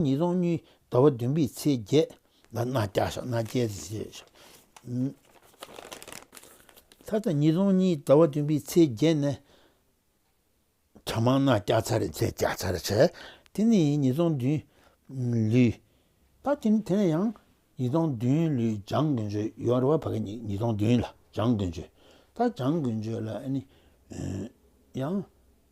ཉིས་སྟོང་གཉིས། ཟླ་བ་བདུན་པའི་ཚེས་བརྒྱད། ལ་སྣ་བརྒྱ་ཞག་སྣ་བརྒྱད་རེ་བཞེས་ཤིག། ད་ལྟ་ཉིས་སྟོང་གཉིས་ཟླ་བ་བདུན་པའི་ཚེས་བརྒྱད་ནས། གྱ་མང་སྣ་བརྒྱ་ཚར་རེ་བྱས་བརྒྱ་ཚར་རེ་བྱས། དེ་ནས་ཡིན་ཉིས་སྟོང་བདུན། ལུས། ད་དེ་ནས་ཡང། ཉིས་སྟོང་བདུན་ལུས་འཇང་དགུན་ཆོས་ཡོང་རེ་བ་བར་གྱི་ཉིས་སྟོང་བདུན་ལ་འཇང་དགུན་ཆོས། ད་འཇང་དགུན་ཆོས་ལ་ཡང།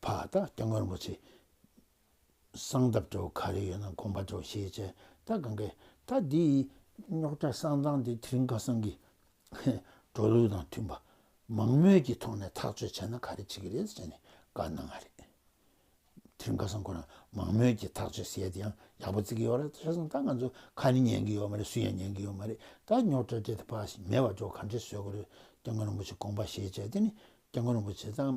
བ་ད་སྟེ་སྔོན་པོ་ཆེ། གསང་སྟབས་བྲོ་བོ་ག་རེ་ཡོད་ན་དགོངས་པ་བྲོ་ཞེས་བྱ་ད་ག་གེ། ད་འདི་ཡི་རྙོག་དྲ་གསང་གཙང་འདི་དེ་རིང་ཁ་སང་གི་བྲོ་ལུགས་དང་མཐུན་པ་མང་མོད་ཀྱི་ཐོག་ནས་ཐག་གཅོད་བྱས་ན་ག་རེ་བྱེད་ཀྱི་རེད་ཅེས་ནས་བཀའ་གནང་བ་རེད། དེ་རིང་ཁ་སང་ཁོ་རང་མང་མོད་ཀྱི་ཐག་གཅོད་བྱས་དེ་ཡང་ཡག་པོ་བརྩི་གི་ཡོད་རེད་ད་ཆ་སང་ད་ང་ཚོ་ཁ་ནི་ཉན་གི་ཡོད་མ་རེད་སུ་ཡང་ཉན་གི་ཡོད་མ་རེད་ད་རྙོག་དྲ་འདྲེ་དེ་བ་ཞིག་མེད་པར་བྲོ་ག་འདྲེ་བཟོས་དགོས་རེད་སྟེ་སྔོན་པོ་ཆེ་དགོངས་པ་ཞེས་བྱ་དེ་ནི་སྟེ་སྔོན་པོ་ཆེ་ད།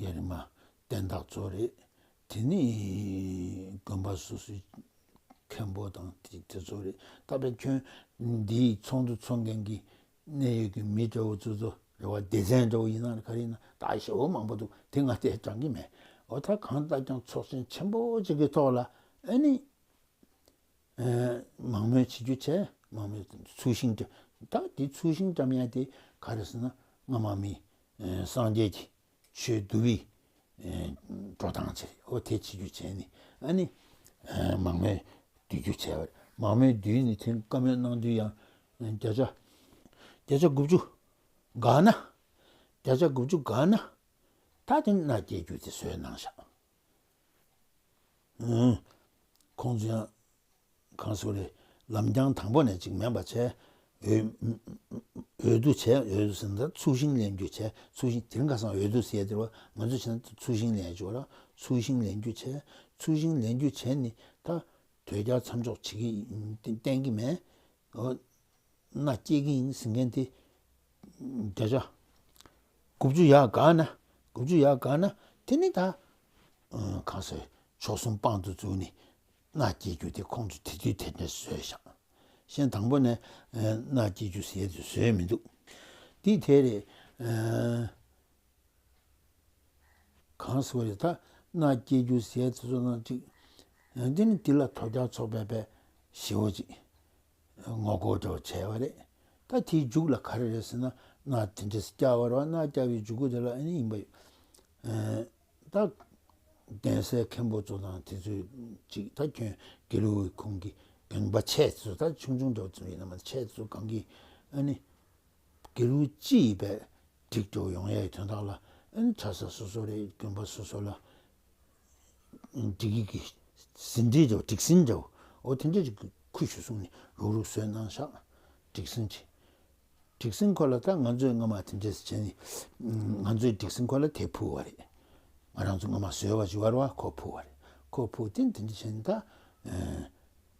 ཡ་རི་མ། བསྟན་བདག་གཙོ་རེད། དེ་ནི་དགོན་པ་སོ་སོའི་མཁན་པོ་དང་དེ་ཚོ་རེད། ད་ལྟ་ཁྱོད་འདིའི་ཚོགས་འདུ་འཚོགས་མཁན་གྱི་གནད་ཡོད་ཀྱི་མི་འདྲ་བོ་ཚོ་ཚོ་རེ་བ་སྡེ་ཚན་འདྲ་བོ་ཡིན་ན་ག་རེ་ཡིན་ན་ད་ཞེ་བོ་མང་པོ་འདུག་དེ་ང་ལྟས་དྲང་གི་མེད་འོ་ད་གང་ལྟ་ཀྱང་ཚོགས་ཆེན་ཆེན་པོ་གཅིག་གི་ཐོག་ལ་ཨ་ནི། མང་མོས་བྱེད་རྒྱུ་བྱས། མང་མོས་ཚུལ་ཤིང་བཀྲམ། ད་དེ་ཚུལ་ཤིང་བཀྲམ་ཡས་དེ་ག་རེད་ཟེར་ན་སྔ་མ་མི་སངས་རྒྱས་ཀྱི་ཆོས་བསྡུ་བའི་འགྲོ་སྟངས་བྱེད་རེད། ཨོ་དེ་བྱེད་རྒྱུ་བྱས་ནས་ཨ་ནི་མང་མོས་བསྡུ་རྒྱུ་བྱས་པ་རེད། མང་མོས་བསྡུས་ནས་དེ་བཀའ་མོལ་གནང་དུས་ཡང་བརྒྱ་ཆ་བརྒྱ་ཆ་དགུ་བཅུ་འགགས་ན། བརྒྱ་ཆ་དགུ་བཅུ་འགགས་ན། ད་དེ་མནའ་སྐྱེལ་རྒྱུ་དེ་བཟོས་གནང་བཞག། ཁོང་ཚོ་ཡང་གང་སུ་རེད་ལམ་རྐྱང་དང་པོ་ནས་ཅིག་མེད་པར་བྱས། འོས་བསྡུ་བྱས་འོས་བསྡུ་བྱས་ནས་ཚུལ་ཤིང་ལེན་རྒྱུ་བྱས་ཚུལ་ཤིང་དེ་རིང་ཁ་སང་འོས་བསྡུ་བྱས་དེ་ང་ཚོས་བྱས་ན་ཚུལ་ཤིང་ལེན་ཞུ་བ་ར་ཚུལ་ཤིང་ལེན་རྒྱུ་བྱས་ཚུལ་ཤིང་ལེན་རྒྱུ་བྱས་ནས་ད་དོས་རྒྱ་མཚམས་འཇོག་བྱེད་ཀྱི་གཏན་གྱི་མེད། མནའ་སྐྱེལ་གྱི་ཡིན་ཟེར་མཁན་དེ་བརྒྱ་ཆ་དགུ་བཅུ་ཡར་དགའ་ན་དགུ་བཅུ་ཡར་དགའ་ན་དེ་ནི་ད་གང་ཟེར་ཕྱོགས་གསུམ་དཔང་དུ་བཙུགས་ནས་མནའ་སྐྱེལ་རྒྱུ་དེ་ཁོང་ཚོས་དེ་དུས་དེ་འདྲ་བཟོས་བཞག་གཞན་དང་པོ་ནས་མནའ་སྐྱེལ་རྒྱུ་ཟེར་དུས་བཟོས་མི་འདུག་འདི་དེ་རེད། གང་གསོལ་བ་ཡི་དག་སྣ་བསྐྱེད་རྒྱུ་ཟས་ཚེ་ཚོགས་སྣ་གཅིག། དེ་ནི་དེ་ལ་དོ་རྒྱག་ཚོགས་པའི་པའི་ཞེ་བོ་གཅིག། ངོ་བསྐོར་དྲི་བ་བྱས་པ་རེད། ད་དེའི་མཇུག་ལ་ག་རེ་རེད་ཟེར་ན་སྣ་དེ་འདྲས་བསྐྱར་བར་བ་སྣ་བསྐྱར་བའི་འཇུག་སྒོ་དེ་ལ་ཨེ་ཡིན་པ། ད་གདན་སའི་མཁན་པོ་ཚོ་དང་དེ་ཚོས་ཅིག་ད་ཁྱོད་དགེ་ལུགས་ཀྱི་ཁོང་གི་གངས་པ་ཆས་དེ་ཚོ་ད་ཆུང་ཆུང་འདྲ་བ་ཙམ་ཡིན་ན་མ་ད་ཆས་དེ་ཚོ་གངས་ཀྱི་ཨ་ནི། དགེ་ལུགས་སྤྱི་ཡི་པའི་སྒྲིག་འགྲོ་ཡོང་ཡའི་དོན་དག་ལ་ཨེན་ཁྲ་ས་སོ་སོ་རེད་རྒྱུན་པ་སོ་སོ་ལ་སྒྲིག་གི་ཟིན་བྲིས་འདྲ་བོ་སྒྲིག་ཟིན་འདྲ་བོ་ཨོ་དེ་འདྲ་ཅིག་ཁུར་ཞུ་གསུངས་ནས་རུག་རུག་བཟོས་གནང་ཤག་སྒྲིག་ཟིན་གྱི་སྒྲིག་ཟིན་ཁོ་ལ་ད་ང་ཚོས་སྔོན་མ་དེ་འདྲས་བྱས་ནས་ང་ཚོས་སྒྲིག་ཟིན་ཁོ་ལ་དེ་ཕུལ་བ་རེད་ང་རང་ཚོ་སྔོན་མ་བཟོས་བ་ཇི་བར་བ་ཁོ་ཕུལ་བ་རེད་ཁོ་ཕུལ་ཏེ་འདི་འདྲ་བྱས་ནས་ད་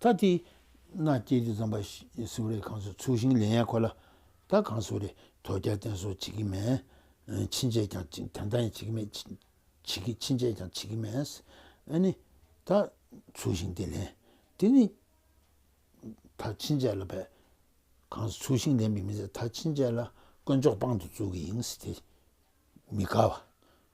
ད་དེས་ན་སྐྱེས་བུ་འཛམ་པ་སེའུ་རེ་གངས་སུ་ཚུགས་ཤིང་ལས་ཡས་ཁོ་ལ། ད་གངས་སེའུ་རེ་དོ་རྒྱལ་བསྟེན་གསོལ་བྱེད་ཀྱི་མེད། ཕྱིན་ཆད་ཀྱང་བྱེད་ཀྱི་མེད། ཕྱིན་ཆད་ཀྱང་བྱེད་ཀྱི་མེད། ཨ་ནི། ད་ཚུགས་ཤིང་དེ་ལེན། དེ་ནི། ད་ཕྱིན་ཆད་ལ་བས། གངས་སུ་ཚུགས་ཤིང་ལེན་པའི་མི་ཚད་ད་ཕྱིན་ཆད་ལ་དཀོན་མཆོག་དཔང་དུ་བཙུགས་ཀྱི་ཡིན། དེ་མི་དགའ་བ།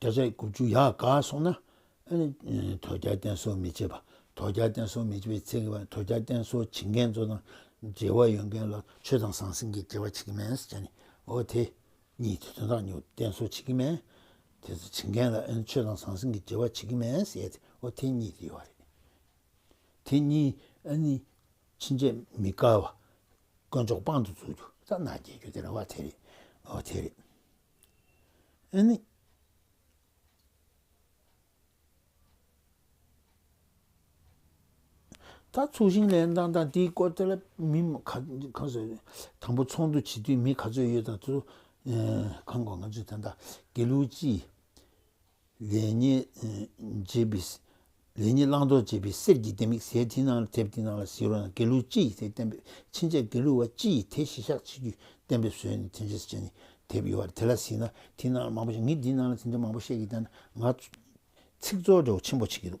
བརྒྱ་ཆ་དགུ་བཅུ་ཡར་དགའ་སོང་ན། དོལ་རྒྱལ་བསྟེན་གསོལ་མི་བྱེད་པ། དོལ་རྒྱལ་བསྟེན་གསོལ་མི་བྱེད་པའི་ཚེ་དོལ་རྒྱལ་བསྟེན་གསོལ་བྱེད་མཁན་ཚོ་དང་འབྲེལ་བ་ཡོད་མཁན་ལ་ཆོས་དང་ཟང་ཟིང་གི་འབྲེལ་བ་བྱེད་ཀྱི་མེད་ཟེར་ནས་འོ་དེ་གཉིས་དེ་དོན་དག་ཉོ་བསྟེན་གསོལ་བྱེད་ཀྱི་མེད། དེ་ཚོ་བྱེད་མཁན་ལ་ཆོས་དང་ཟང་ཟིང་གི་འབྲེལ་བ་བྱེད་ཀྱི་མེད་ཟེར་ཏེ་འོ་དེ་གཉིས་དེ་ཡོད་རེད། དེ་གཉིས་ཕྱིན་ཆད་མི་དགའ་བ་དཀོན་མཆོག་དཔང་དུ་འཛུགས་རྒྱུ་ཐ་ན་རྒྱལ་རྒྱུ་དེ་རེད་བ་དེ་རེད་འོ་དེ་རེད། ད་ཚོགས་ཞིང་ལས་དང་དང་དེའི་སྐོར་དེ་ལ་མི་གང་ཟེར་ཡོད་དང་པོ་ཚོགས་འདུ་བྱེད་དུས་མི་ག་ཚོད་ཡོད་དང་ཚོད་གང་དགོས་ང་ཚོས་དེ་ད་དགེ་ལུགས་སྤྱི་ལས་ཉེས་བྱེད་པའི་ལས་ཉེས་བླང་དོར་བྱེད་པའི་གསེར་གྱི་ལྡེ་མིག་ཟས་དེའི་ནང་ལ་ཐེབས་དེའི་ནང་ལ་བཟི་རོ་ན་དགེ་ལུགས་སྤྱི་ཡིས་དེ་བསྟན་པས་ཕྱིན་ཆད་དགེ་ལུགས་བ་སྤྱི་ཡིས་དེ་གཞི་བཞག་བྱེད་རྒྱུ་བསྟན་པས་བཟོས་ནས་དེ་འཇིགས་བྱེད་ནས་དེབ་ཡོད་བར་དེ་ལ་བཟི་ན་དེའི་ནང་ལ་མང་པོ་ཞིག་ངས་དེའི་ནང་ལ་དེ་འདྲ་མང་པོ་བཤད་ཀྱི་བསྟན་ན་ང་ཚིག་རྩོད་འདྲ་བོ་ཆེན་པོ་བྱེད་ཀྱི་འདུག།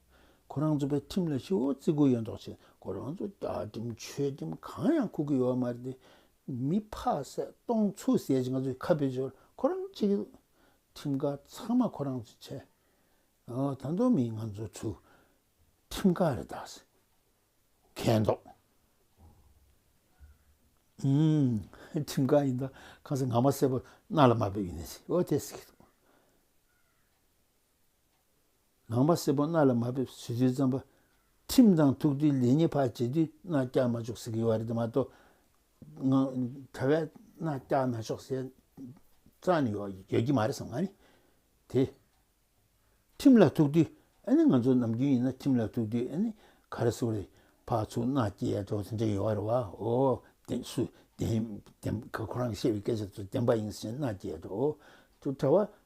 ཁོ་རང་ཚོ་པའི་ཁྲིམས་ལ་ཧི་བོ་བརྩི་དགོས་ཡོད་མདོག་བྱེད་ཁོ་རང་ཚོ་རྒྱ་ཁྲིམས་ཆོས་ཁྲིམས་གང་ཡང་ཁུག་གི་ཡོད་མ་རེད་དེ་མི་ཕག་ཟས་སྟོང་ཚུགས་ཟས་ཀྱི་ང་ཚོ་ཁ་བེ་ཞོར་ཁོ་རང་བྱེད་ཀྱི་འདུག་ཁྲིམས་ཁ་ཚང་མ་ཁོ་རང་ཚོས་བྱས་ད་མདོ་མི་ང་ཚོ་ཚོས་ཁྲིམས་ཁ་རེ་བདག་ཟེར་མཁན་མདོག་ཁྲིམས་ཁ་ཡིན་ད་གང་ཟེར་ང་མ་བསད་པར་རྣ་ལ་མ་བབས་ཡིན་ཟེར་ཨོ་དེ་ཟེར་གྱི་འདུག་ངང་པ་སེར་པོ་རྣ་ལ་མ་ཕེབས་ཟེར་དུས་རྩམ་པ་ཁྲིམས་དང་ཐུག་དུས་ལས་ཉེས་ཕར་བྱེད་དུས་རྣ་བཀྱག་མ་ཆོག་ཟེར་གི་ཡོད་རེད་དེ་མ་གཏོགས་ག་བས་རྣ་བཀྱག་མ་ཆོག་ཟེར་རྩ་ནས་ཡོད་ཀྱི་མ་རེད་བསམ་གི་དེ་ཁྲིམས་ལ་ཐུག་དུས་ཨ་ནི་ང་ཚོ་ནམ་རྒྱུན་ཡིན་ན་ཁྲིམས་ལ་ཐུག་དུས་ཨ་ནི་ག་རེ་སུ་རེད་ཕར་ཚུར་རྣ་བཀྱེ་ཡ་ཆོག་ཟེར་འདྲ་ཡོད་རེད་བ་ཨོ་དེ་སུ་དེ་ཁོ་རང་གི་བཤད་པའི་སྐད་ཆ་དེ་ཚོ་བདེན་པ་ཡིན་ཟེར་རྣ་བཀྱེ་ཡ་ཆོག་ཨོ་ཁྱོད་གྲྭ་བ་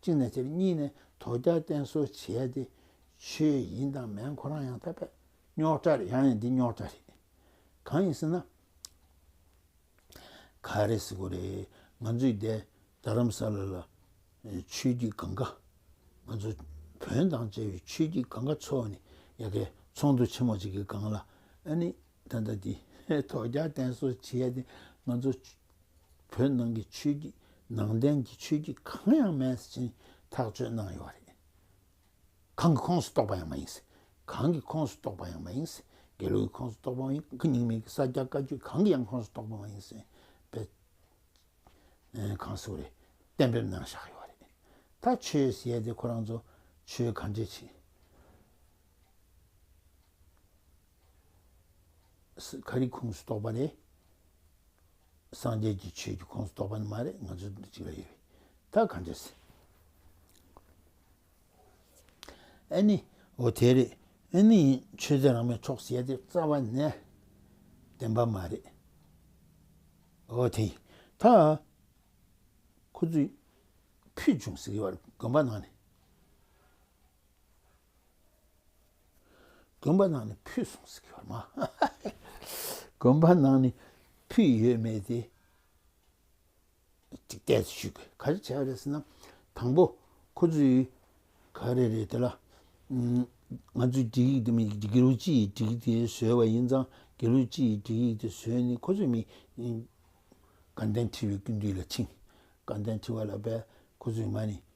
གཅིག་ནས་ཕྱིར་གཉིས་ནས་དོ་རྒྱག་བསྟེན་གསོལ་བྱས་ཏེ། ཆོས་ཡིན་དང་མེན་ཁོ་རང་ཡང་ཐ་པད། རྙོག་དྲ་རེད་ཡང་ཡང་འདི་རྙོག་དྲ་རེད། གང་ཡིན་ཟེར་ན། ག་རེ་ཟེར་དགོས་རེད། ང་ཚོའི་འདས་རྡ་རམ་ས་ལ་ལ་ཆོས་བརྒྱུད་གང་ག། ང་ཚོ་བོན་དང་བཅས་པའི་ཆོས་བརྒྱུད་གང་ག་ཚོ་ནི་ཡ་གའི་ཚོགས་འདུ་ཆེན་མོ་གཅིག་གི་སྒང་ལ་ཨ་ནི་ད་ལྟ་འདི་དོ་རྒྱག་བསྟེན་གསོལ་བྱས་ཏེ་ང་ཚོ་བོད་ནང་གི་ཆོས་བརྒྱུད་ནང་བསྟན་གྱི་ཆོས་བརྒྱུད་གང་ཡང་མེད་ཟེར་བཞིན་ཐག་གཅོད་གནང་ཡོད་རེད། གང་གི་ཁོངས་སུ་གཏོགས་པ་ཡང་མ་ཡིན། གང་གི་ཁོངས་སུ་གཏོགས་པ་ཡང་མ་ཡིན། དགེ་ལུགས་ཀྱི་ཁོངས་སུ་གཏོགས་པའང་ཡིན་གང་ཉིད་མིན་གྱི་ས་སྐྱ་བཀའ་བརྒྱུད་གང་གི་ཡང་ཁོངས་སུ་གཏོགས་པ་མ་ཡིན་ཟེར་བའི་གང་ཟུག་རེ་གཏན་འབེབས་གནང་བཞག་ཡོད་རེད། ད་ཆོས་ཟེར་ཏེ་ཁོ་རང་ཚོ་ཆོས་ག་འདྲས་བྱེད། ཁ་རིག་ཁུངས་སུ་གཏོགས་པ་ལས་སངས་རྒྱས་ཀྱི་ཆོས་ཀྱི་ཁོངས་སུ་གཏོགས་པ་ནི་མ་རེད་ང་ཚོ་འདི་གཅིག་ལ་ཡོད་ད་ག་འདྲ་ཟེར། ཨེ་ནི་འོ་དེ་རེད་ཨེ་ནི་ཡིན་ཆོས་ཚན་རང་མའི་ཕྱོགས་ཞེས་དེ་རྩ་བ་ནས་བདེན་པ་མ་རེད། འོ་དེ་ཡིན་ད་ཁོ་ཚོས་ཕུལ་བྱུང་ཟེར་གི་བར་དགོན་པ་ནང་ནས། དགོན་པ་ནང་ནས་ཕུད་སོང་ཟེར་གྱི་ཡོད་མ་དགོན་པ་ནང་ནས་ཕུད་ཡོད་མེད་དེ་གཅིག་བལྟས་ཚོད་ཞུས་དགོས་ག་རེ་བྱས་པ་རེད་ཟེར་ན་དང་པོ་ཁོ་ཚོས་ག་རེ་རེད་དེ་ལ་ང་ཚོས་སྒྲིག་ཡིག་དེ་མི་དགེ་ལུགས་སྤྱི་ཡི་སྒྲིག་ཡིག་དེ་བཟོས་པ་ཡིན་ཙང་དགེ་ལུགས་སྤྱི་ཡི་སྒྲིག་ཡིག་དེ་བཟོས་ནས་ཁོ་ཚོས་མི་དགའ་ལྡན་ཁྲི་བའི་སྐུ་མདུན་ལ་ཕྱིན་དགའ་ལྡན་ཁྲི་བ་ལ་བས་ཁོ་ཚོས་ང་ནི་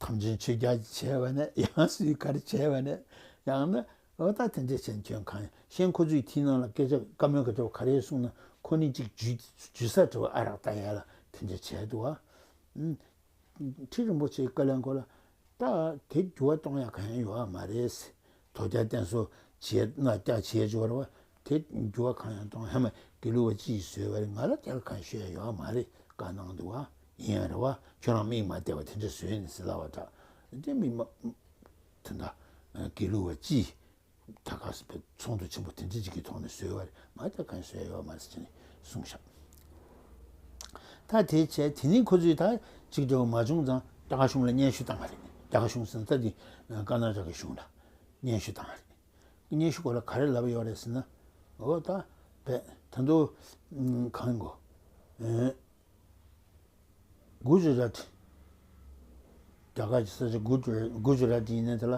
ཐམས་ཅད་མཆོད་བརྒྱ་བྱས་པ་ནས་ཡང་སུས་གར་བྱས་པ་ནས་ཡང་ན་འོ་ད་དེ་འདྲས་བྱས་ཁྱོད་གང་ཤེས་ཁོ་ཚོའི་མཐིལ་ནང་ལ་སྐད་ཆ་བཀའ་མོལ་ག་ཆོ་ག་རེ་གསུངས་ན་ཁོ་ནི་གཅིག་ཇུས་སར་བྲོས་བ་ཨ་རག་ལྟ་ཡས་ལ་དེ་འདྲས་བྱས་འདུག་ཨ། ཁྲི་རིན་པོ་ཆེའི་བཀའ་ལན་སྐོར་ལ་ད་དེ་འགྱུར་བ་གཏོང་ཡ་ག་ཡང་ཡོད་ཨ་མ་རེད། དོ་རྒྱ་བསྟན་སོ་བྱེད་སྣ་བཀྱག་བྱེད་སྦྱོར་བ་དེ་འགྱུར་བ་གང་ཡང་གཏོང་ཧ་མ་དགེ་ལུགས་པ་ཅིས་བཟོས་བ་རེད་ང་ལ་དེར་ཁ་ཤོས་ཡོད་མ་རེད་དཀའ་སྣང་འདུག་ཨ་ཡིན་ཡང་རེད་བ་ཁྱོད་རང་མིག་མ་བལྟས་བ་དེ་འདྲ་བཟོས་ནས་ཟི་ལ་བ་དྲག་དེ་མི་མ་དེ་འདྲ་དགེ་ལུགས་བ་ཅིས་ད་ག་ཚོང་དུ་ཆེན་པོ་དེ་འདྲ་ཅིག་གི་ཐོག་ནས་བཟོས་བ་རེད་ང་དེར་ཁ་ཤོས་ཡོད་མ་རེད་ཅེས་ནས་གསུངས། ད་དེ་བྱས་དེ་ནི་ཁོ་ཚོས་ད་ཅིག་འབྲེལ་བ་མ་བྱུང་ཙང་རྒྱ་གར་གཞུང་ལ་སྙན་ཞུ་བཏང་བ་རེད། རྒྱ་གར་གཞུང་ཟེར་ན་ད་དེ་ཀ་ན་ར་གའི་གཞུང་ལ་སྙན་ཞུ་བཏང་བ་རེད། སྙན་ཞུ་སྐོར་ལ་ག་རེ་ལབ་ཡོད་རེད་ཟེར་ན། འོ་ད་བས་ད་དུ་གང་གོ། Gujarat། རྒྱ་གར་གྱི་ས་ཆ Gujarat ཡིན་ནས་དེ་ལ་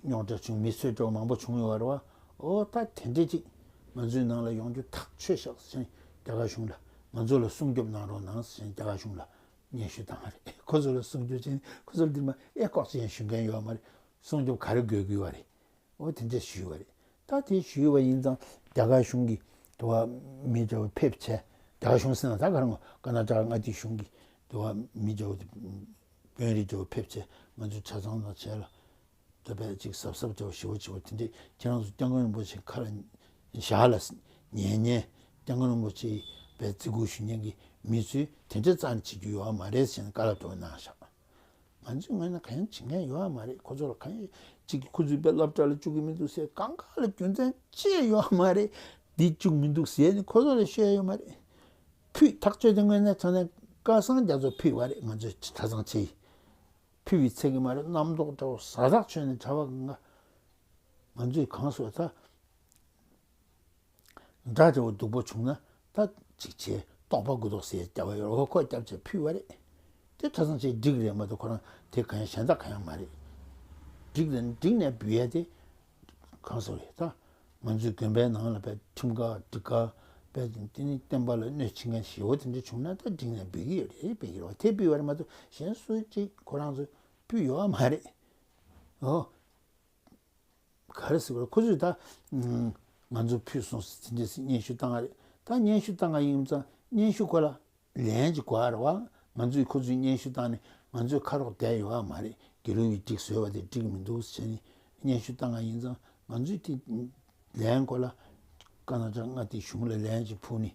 རྙོག་དྲ་བྱུང་མི་གསོད་བཀྲོག་མང་པོ་བྱུང་ཡོད་བར་བའོ། ད་དེ་འདྲས་ཅིག་ང་ཚོའི་ནང་ལ་ཡོང་རྒྱུ་ཐག་ཆོད་ཤག་ཟེར་མཁན་རྒྱ་གར་གཞུང་ལ་ང་ཚོ་ལ་སྲུང་སྐྱོབ་གནང་རོགས་གནང་ཟེར་མཁན་རྒྱ་གར་གཞུང་ལ་སྙན་ཞུ་བཏང་བ་རེད། ཁོ་ཚོ་ལ་སྲུང་སྐྱོབ་བྱས་ནས་ཁོ་ཚོར་འདིར་མ་ཨེ་ལྐོག་ཅེས་ཞུ་མཁན་ཡོད་མ་རེད། སྲུང་སྐྱོབ་ག་རེ་དགོས་དགོས་བ་རེད། ཨོ་དེ་འདྲས་ཞུས་བ་རེད། ད་དེ་ཞུས་བ་ཡིན་ཙང་རྒྱ་གར་གཞུང་གིས་དེ་བ་མི་འདྲ་བ་ཕེབས་བྱས། རྒྱ་གར་གཞུང་ཟེར་ན་ད་གར་ངོ་ཀ་ན་ཀྲ་མངའ་སྡེའི་གཞུང་གིས་དེ་བ་མི་འདྲ་བ་དེ་དཔོན་རིགས་འདྲ་བ་ཕེབས་བྱས་ང་ཚོས་ཆ་ཚང་དང་བྱས་ལ། དེ་བས་གཅིག་གཟབ་གཟབ་བྱའོ་ཞི་བ་བྱེད་པ་དེ་འདྲས་ཁྱེད་རང་ཚོ་སྐྱབས་མགོན་རིན་པོ་ཆེ་ཁ་ལ་བཞག་ལ་ཉན་ཉན། སྐྱབས་མགོན་རིན་པོ་ཆེའི་བས་བརྩི་བཀུར་ཞུ་ཉན་གི་མི་ཚོས་དེ་འདྲས་རྩ་ནས་བྱེད་རྒྱུ་ཡོད་མ་རེད་ཟེར་ནས་བཀའ་ལ་གྲོ་བ་གནང་བཞག། ང་ཚོའི་ངོས་ནས་གང་ཡང་བྱེད་མཁན་ཡོད་ཨ་མ་རེད་ཁོ་ཚོ་ལ་གང་ཡང་བྱེད་ཀྱི་ཁོ་ཚོའི་བའི་སློབ་གྲྭ་ལ་བཅུག་གི་མི་འདུག་ཟེར་གང་ག་ལ་རྒྱུ་མཚན་ཅི་ཡོད་ཨ་མ་རེད་འདི་བཅུག་མི་འདུག་ཟེར་ནས་ཁོ་ཚོ་ལ་ཤོད་ཡོད་མ་རེད། ཕུད་ཐག་གཅོད་དེ་དངོས་གནས་ཚང་ནས་ཀ་སང་རྒྱ་མཚོ་ཕུད་བ་རེད་ང་ཚོས་ཇི་ལྟ་ཚང་བྱས་ཡིན་ཕུད་བའི་ཚད་ཀྱི་མ་རེད་རྣམ་རྟོག་འདྲ་བོ་ཟ་ཐག་ཆོད་ནས་བྱ་བ་གང་ག་ང་ཚོས་གང་བཟོས་ད། སྒྲ་རི་བོ་སྡུག་པོ་བྱུང་ན་ད་ཅིག་ཆེ་རྟོགས་པ་གུ་དོག་སེ་སྐྱ་བོ་ཡོར་བ་ཁོ་སྐྱབས་ཅེས་ཕུལ་བ་རེད། དེ་ཁྲ་ཚང་ཆེ་འགྲིག་རེད་མ་གཏོགས་ཁོ་རང་དེ་ག་ཡང་གཞན་དག་ག་ཡང་མ་རེད། འགྲིག་དང་འགྲིག་ནས་འབུལ་ཡ་དེ་གང་ཟེར་བ་ཡོད་ད། ང་ཚོའི་དགོན་པའི་ནང་ལ་པའི་ཁྲིམས་ཁག་སྒྲིག་ཁག་པའི་དེ་ནི་བསྟན་པ་ལ་གནོད་བྱེད་མཁན་ཞེ་བོ་དེ་འདྲ་བྱུང་ན་ད་འགྲིག་ནས་འབུལ་གྱི་ཡོད་རེད་དཔེ་གྱུར་བ་དེ་ཕུལ་བ་རེད་མ་གཏོགས་གཞན་སུ་གཅིག་ཁོ་རང་ཚོས་ཕུལ་ཡོད་མ་རེད། ག་རེ་ཟེར་བ་རེད་ཁོ་ཚོས་ད་ང་ཚོ་ཕུད་སོང་ཟེར་དེ་འདྲས་ཟེར་སྙན་ཞུ་བཏང་བ་རེད་ད་སྙན་ཞུ་བཏང་ག་ཡིན་ཙང་སྙན་ཞུ་ཁོ་ལ་ལན་ཅིག་གོ་ཨར་བ་ང་ཚོས་ཁོ་ཚོས་སྙན་ཞུ་བཏང་ནས་ང་ཚོས་ཁ་རོག་བསྡད་ཡོད་ཨ་མ་རེད་དགེ་སློང་གིས་འགྲིག་ཟེར་བ་དེ་འགྲིག་མི་འདུག་བྱས་ནས་སྙན་ཞུ་བཏང་ག་ཡིན་ཙང་ང་ཚོས་དེ་ལན་གོ་ལ་ཀ་ན་ཀྲ་ང་དེ་གཞུང་ལ་ལན་ཅིག་ཕུལ་ནས།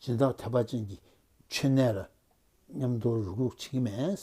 སྦྱིན་བདག་ཐེག་པ་ཅན་གྱི་མཆོད་གནས་ལ། མཉམ་དུ་རུ་ཁུག་བྱེད་ཀྱི་མེད།